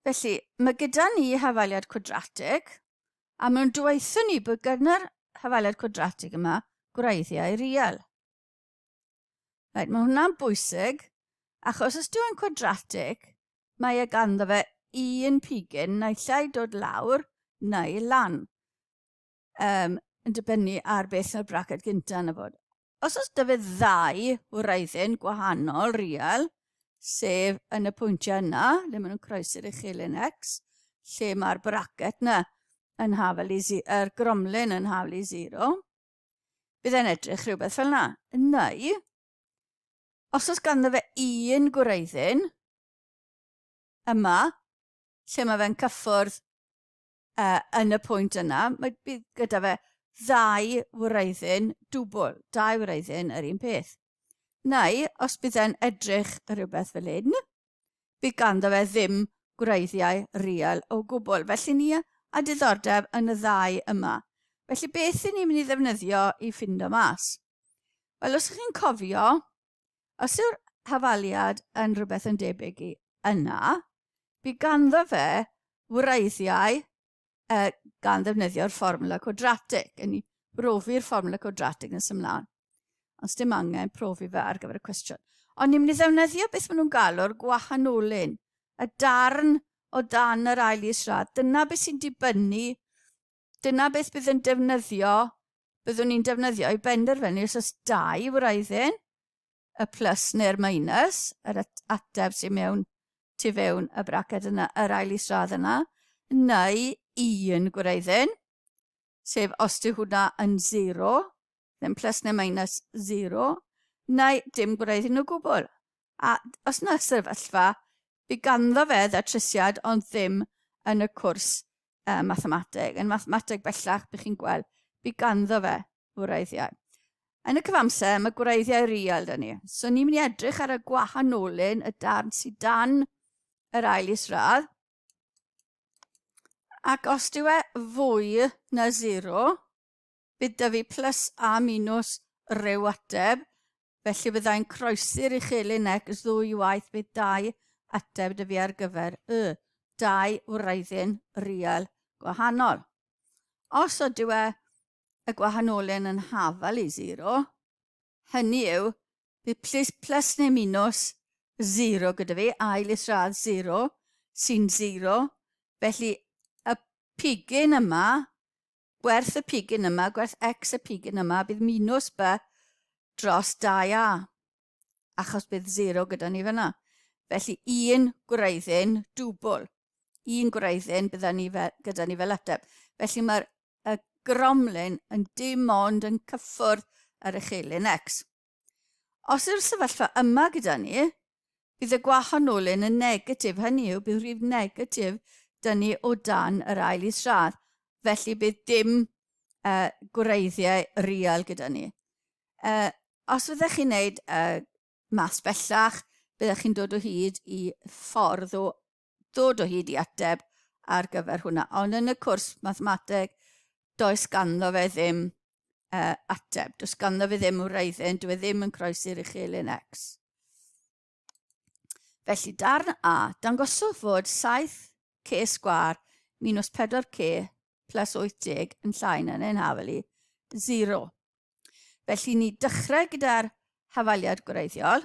Felly, mae gyda ni hafaliad cwadratig, a maen nhw'n dweithio ni bod gyda'r hafaliad cwadratig yma gwreiddiau real. Right, mae hwnna'n bwysig, achos os dwi'n cwadratig, mae e ganddo fe un pigyn naill ai dod lawr neu lan. um, yn dibynnu ar beth yw'r braced gyntaf yn y fod. Os oes dy fe ddau wraiddyn gwahanol real, sef yn y pwyntiau yna, le maen nhw'n croesi'r uchelyn x, lle mae'r braced yna yn hafel i er gromlyn yn hafel i zero, bydd e'n edrych rhywbeth fel yna. Neu, os oes ganddo fe un gwraiddyn, yma, lle mae fe'n cyffwrdd uh, yn y pwynt yna, mae bydd gyda fe ddau wreiddyn dwbl, dau wreiddyn yr un peth. Neu, os bydd e'n edrych rhywbeth fel hyn, bydd ganddo fe ddim gwreiddiau real o gwbl. Felly ni a diddordeb yn y ddau yma. Felly beth i ni'n mynd i ddefnyddio i ffindo mas? Wel, os ydych chi'n cofio, Os yw'r hafaliad yn rhywbeth yn debyg i yna, bu ganddo fe wreiddiau uh, gan ddefnyddio'r fformula cwadratig, yn ni brofi'r fformula cwadratig yn symlaen. Os dim angen profi fe ar gyfer y cwestiwn. Ond ni'n mynd i ddefnyddio beth maen nhw'n galw'r gwahanolyn, y darn o dan yr ail israd. Dyna beth sy'n dibynnu Dyna beth bydd yn defnyddio, byddwn ni'n defnyddio i benderfynu os oes dau wraiddyn, y plus neu'r minus, yr ateb sy'n mewn tu fewn y braced yna, yr ail isradd yna, neu un gwraiddyn, sef os yw hwnna yn 0, ddim plus neu minus 0, neu dim gwneud hyn o gwbl. A os na sefyllfa, bydd ganddo fe ddatrysiad ond ddim yn y cwrs uh, mathemateg. Yn mathemateg bellach, bych chi'n gweld, bydd ganddo fe wreiddiau. Yn y cyfamser, mae gwreiddiau real dyn ni. So ni'n mynd i edrych ar y gwahanolyn y darn sydd dan yr ail isradd. Ac os dyw e fwy na 0, Bydd 'da fi plus a minws ryw ateb, felly byddai'n croesi'r i chi Lynec ddwy waith bydd dau ateb 'da fi ar gyfer y dau wraiddyn real gwahanol. Os ydyw e y gwahanolyn yn hafal i zero, hynny yw, bydd plus, plus neu minws zero gyda fi, ail isradd zero, sy'n zero, felly y pigyn yma Gwerth y pigyn yma, gwerth X y pigyn yma, bydd minus B dros 2A, achos bydd 0 gyda ni fyna. Felly un gwreiddyn dwbl, un gwreiddyn bydda ni fe, gyda ni fel ateb. Felly mae'r y gromlin yn dim ond yn cyffwrdd yr echelin X. Os yw'r sefyllfa yma gyda ni, bydd y gwahonolyn yn negatif, hynny yw bydd rhif negatif dyn ni o dan yr ail isradd, felly bydd dim uh, gwreiddiau real gyda ni. Uh, os fyddech chi'n gwneud uh, mas bellach, byddech chi'n dod o hyd i ffordd o ddod o hyd i ateb ar gyfer hwnna. Ond yn y cwrs mathemateg, does ganddo fe ddim uh, ateb. Does ganddo fe ddim wraiddyn, dwi e ddim yn croesi'r uchelyn X. Felly, darn A, dangoswch fod 7k sgwar minus 4k plus 80 yn llai na'n ein hafel i 0. Felly, ni dechrau gyda'r hafaliad gwreiddiol,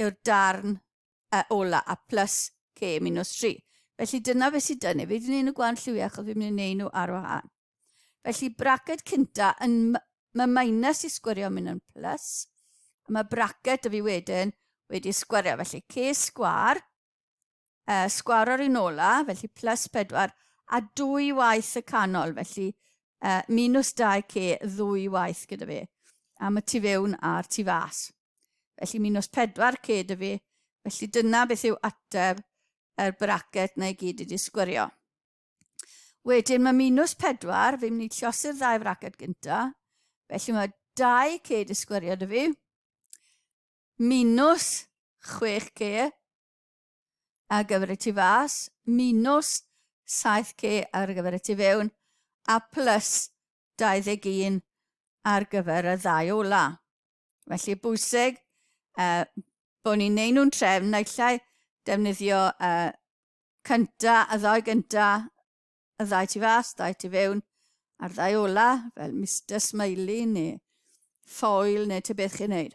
yw'r darn y ola, a plus k minus 3. Felly dyna fe sydd dynnu. Fi wedi gwneud nhw gwan lliwiau achos fi'n mynd i wneud nhw ar wahân. Felly bracet cynta yn mae minus i sgwario mynd yn plus. A mae bracet y fi wedyn wedi sgwario. Felly k sgwar uh, sgwar ar un ola, felly plus 4, a dwy waith y canol, felly uh, minus 2k ddwy waith gyda fi, am y tu fewn a'r tu fas. Felly minus 4k dy fi, felly dyna beth yw ateb yr bracet na i gyd wedi sgwrio. Wedyn mae minus 4, fi'n mynd i llosi'r ddau fracet gyntaf, felly mae 2k wedi sgwrio dy fi, Minws, chwech ce ar gyfer y tu fas, minws, saith ce ar gyfer y tu fewn, a plus 21 ar gyfer y ddau ola. Felly bwysig uh, bod ni'n neud nhw'n trefn, naill ai defnyddio uh, cynta, y ddau gynta, Y ddau tu fas, dau tu fewn, a'r ddau ola, fel Mister Smiley neu Foyle neu te beth chi'n neud.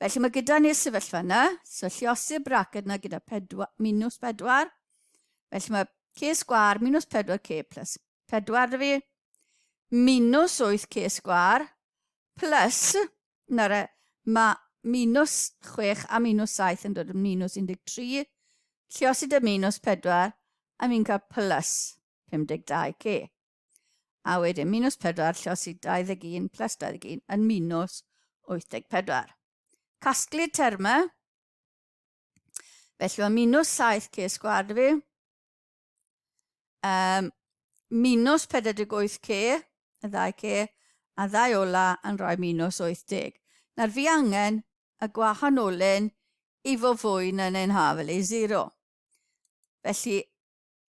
Felly mae gyda ni'r sefyllfa yna, so lliosi'r braced yna gyda pedwa, minus pedwar. Felly mae k sgwar minus pedwar k plus pedwar dy fi, minus 8 k sgwar plus Nara, mae minws chwech a minws saith yn dod yn minws 13, lle os ydy minws pedwar, a mi'n cael plus 52 c. A wedyn minws pedwar, lle os ydy 21 plus 21 yn minws 84. Casglu'r termau, felly mae minws saith c sgward fi, Um, minus 48 c, y ddau c, a ddau ola yn rhoi minus 80. Nawr fi angen y gwahanolyn i fo fwy na neu'n haf, felly 0. Felly,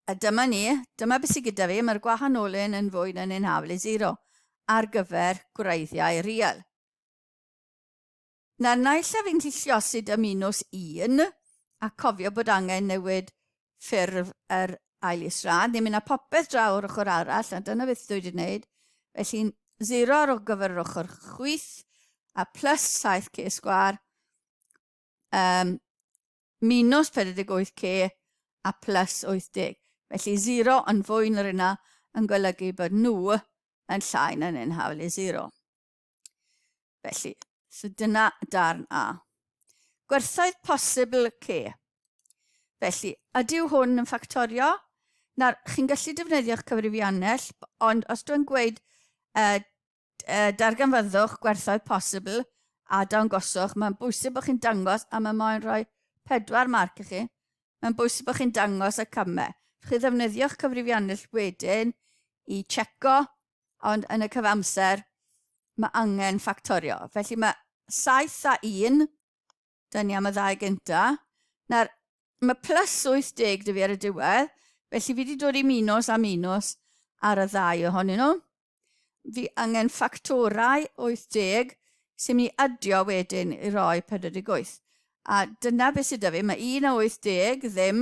a dyma ni, dyma beth sydd gyda fi, mae'r gwahanolyn yn fwy na neu'n haf, felly 0, ar gyfer gwreiddiau real. Na, naill a fi'n gallu lliosi dy minws un, a cofio bod angen newid ffurf yr ail israd, ni'n mynd â popeth draw o'r ochr arall, a dyna beth dwi wedi gwneud, felly'n zero ar gyfer yr ochr chwith, a plus 7k sgwar, um, minus 48k a plus 80. Felly 0 yn fwy na'r yna yn golygu bod nhw yn llai na neu'n hawl i 0. Felly, so dyna darn A. Gwerthoedd posibl C. Felly, ydyw hwn yn ffactorio? Nawr, chi'n gallu defnyddio'ch cyfrifiannell, ond os dwi'n gweud uh, uh, darganfyddwch gwerthoedd posibl a dawn goswch, mae'n bwysig bod chi'n dangos a mae moyn rhoi pedwar marc i chi. Mae'n bwysig bod chi'n dangos y camau. Chi ddefnyddio'ch cyfrifiannell wedyn i checo ond yn y cyfamser mae angen ffactorio. Felly mae 7 a 1, dyn ni am y ddau gynta. Nawr, mae plus 80 dy fi ar y diwedd, felly fi wedi dod i minus a minus ar y ddau ohonyn nhw. Fi angen ffactorau 80 sy'n mynd i adio wedyn i roi 48. A dyna beth sydd dy fi, mae 1 a 80 ddim,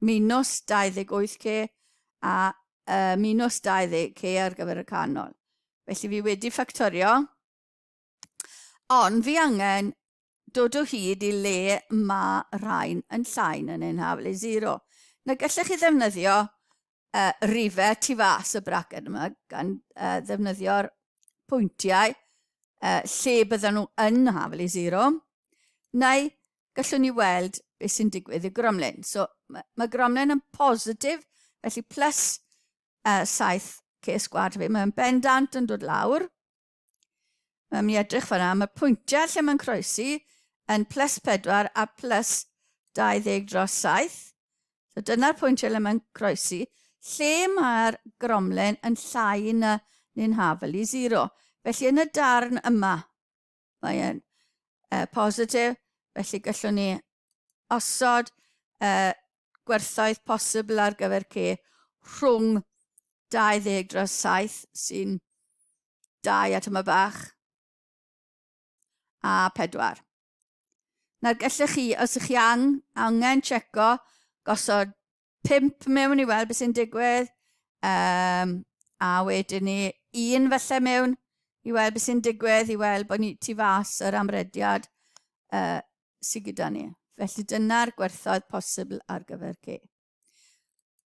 Minws 28 ce a uh, minws 20 ce ar gyfer y canol. Felly fi wedi ffactorio, ond fi angen dod o hyd i le mae rhain yn llain yn ein haflu zero. Na gallech chi ddefnyddio uh, rife tu fas y braced yma gan uh, ddefnyddio'r pwyntiau uh, lle bydden nhw yn haflu zero, neu gallwn ni weld beth sy'n digwydd i Gromlin. So, mae, mae Gromlin yn positif, felly plus uh, 7 ces gwad fi. Mae'n bendant yn dod lawr. Mae'n mi edrych fanna. Mae pwyntiau lle mae'n croesi yn plus 4 a plus 20 dros 7. So dyna'r pwyntiau lle mae'n croesi. Lle mae'r gromlen yn llai na ni'n hafel i 0. Felly yn y darn yma, Mae e'n uh, positif, felly gallwn ni osod uh, gwerthoedd posibl ar gyfer C rhwng 20 dros 7 sy'n 2 at yma bach a 4. Nawr gallech chi, os ych chi ang, angen checo gosod pump mewn i weld beth sy'n digwydd, um, a wedyn ni un felly mewn i weld beth sy'n digwydd, i weld bod ni tu fas yr amrediad uh, sydd gyda ni. Felly dyna'r gwerthoedd posibl ar gyfer ci.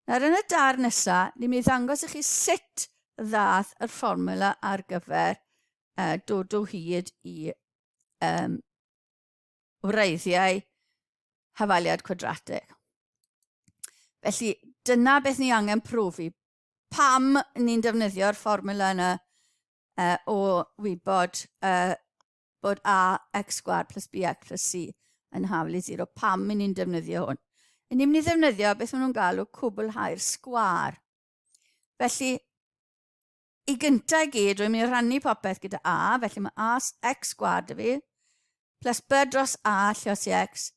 Nawr yn y dar nesaf, ni'n mynd i ddangos i chi sut ddath yr fformula ar gyfer uh, dod o hyd i um, wreiddiau hafaliad cwadratig. Felly, dyna beth ni angen profi. Pam ni'n defnyddio'r fformula yna uh, o wybod uh, bod ax sgwar plus bx plus c yn hafel i 0. Pam i ni'n defnyddio hwn? I ni'n mynd i ddefnyddio beth maen nhw'n galw cwblhau'r sgwar. Felly, I gyntaf i gyd, rwy'n mynd i rannu popeth gyda A, felly mae A X gwad y fi, plus B dros A lle os i X,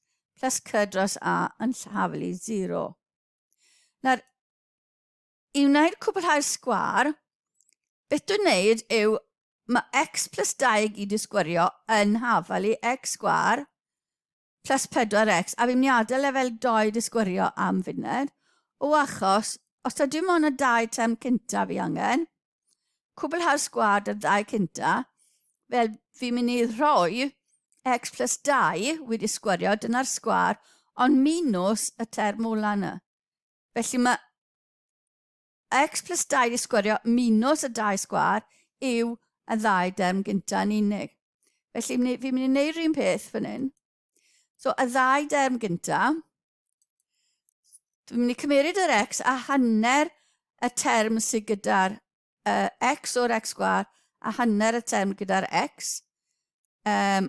plus C dros A yn llafel i 0. Nawr, i wneud cwblhau'r sgwar, beth dwi'n wneud yw mae x plus 2 i gyd i sgwario yn hafel i x sgwar Test 4X, Adduniadau Lefel 2 Disgwyrio am funed o achos Os ta dim ond y dau tem cyntaf fi angen, cwblhau'r sgwad ar ddau cynta, fel fi'n mynd i rhoi x plus 2 wedi sgwario, dyna'r sgwar, ond minws y term ola yna. Felly mae X plus dau di sgwario minus y dau sgwar yw y ddau derm gynta yn unig. Felly fi'n mynd i wneud rhywun peth fan hyn. So y ddau derm gynta, dwi'n mynd i cymeryd yr x a hanner y term sydd gyda'r uh, x o'r x sgwar a hanner y term gyda'r x. Um,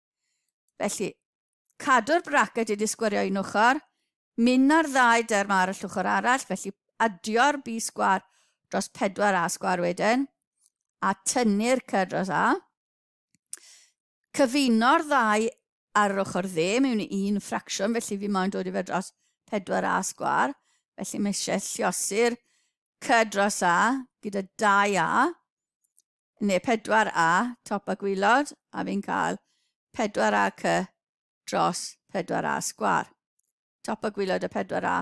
Felly, cadw'r braced wedi sgwario un ochr, mynd â'r ddau derm ar y llwchor arall, felly adio'r B sgwar dros 4A sgwar wedyn, a tynnu'r cy dros A. Cyfuno'r ddau ar yr ochr dde mewn i un ffracsiwn, felly fi moyn dod i fe dros 4A sgwar, felly mae eisiau lliosi'r cy dros A gyda 2A, neu 4A, top a gwylod, a fi'n cael 4A cy dros 4A sgwar. Top a gwylod a 4A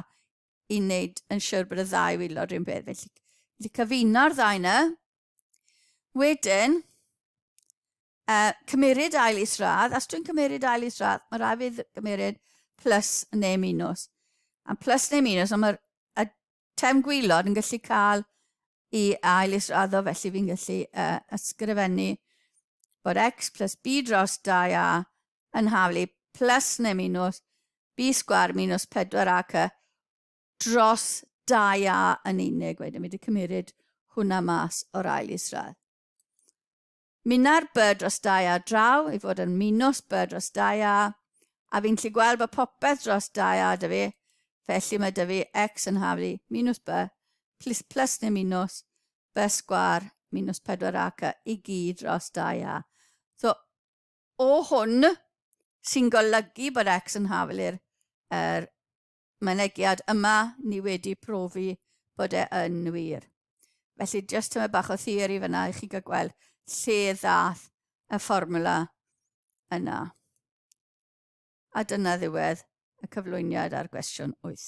i wneud yn siwr bod y ddau wylod rhywun beth. Felly, felly cyfuno'r ddau yna. Wedyn, uh, cymeryd ail isradd. Os dwi'n cymeryd ail isradd, mae rhaid fi gymeryd plus neu minus. A plus neu minus, ond mae'r Tem gwylod yn gallu cael i ail israddo felly fi'n gallu uh, ysgrifennu bod x plus b dros 2a yn haflu plus neu minus b sgwar minus 4ac dros 2a yn unig. Wedyn mi wedi cymryd hwnna mas o'r ail isradd. Minnau'r Bird Dros Dai ar draw i fod yn Minos Bird Dros Dai a, a fi'n lli gweld bod popeth dros Dai a da fi, felly mae da fi X yn haflu i, Minws B, plus plus neu Minws, B sgwar, Minws 4 ac y i gyd dros Dai a. So, o hwn sy'n golygu bod X yn haflu'r er, mynegiad yma, ni wedi profi bod e yn wir. Felly, jyst tyma bach o theori fyna i chi gael gweld lle ddath y fformula yna. A dyna ddiwedd y cyflwyniad ar gwestiwn 8.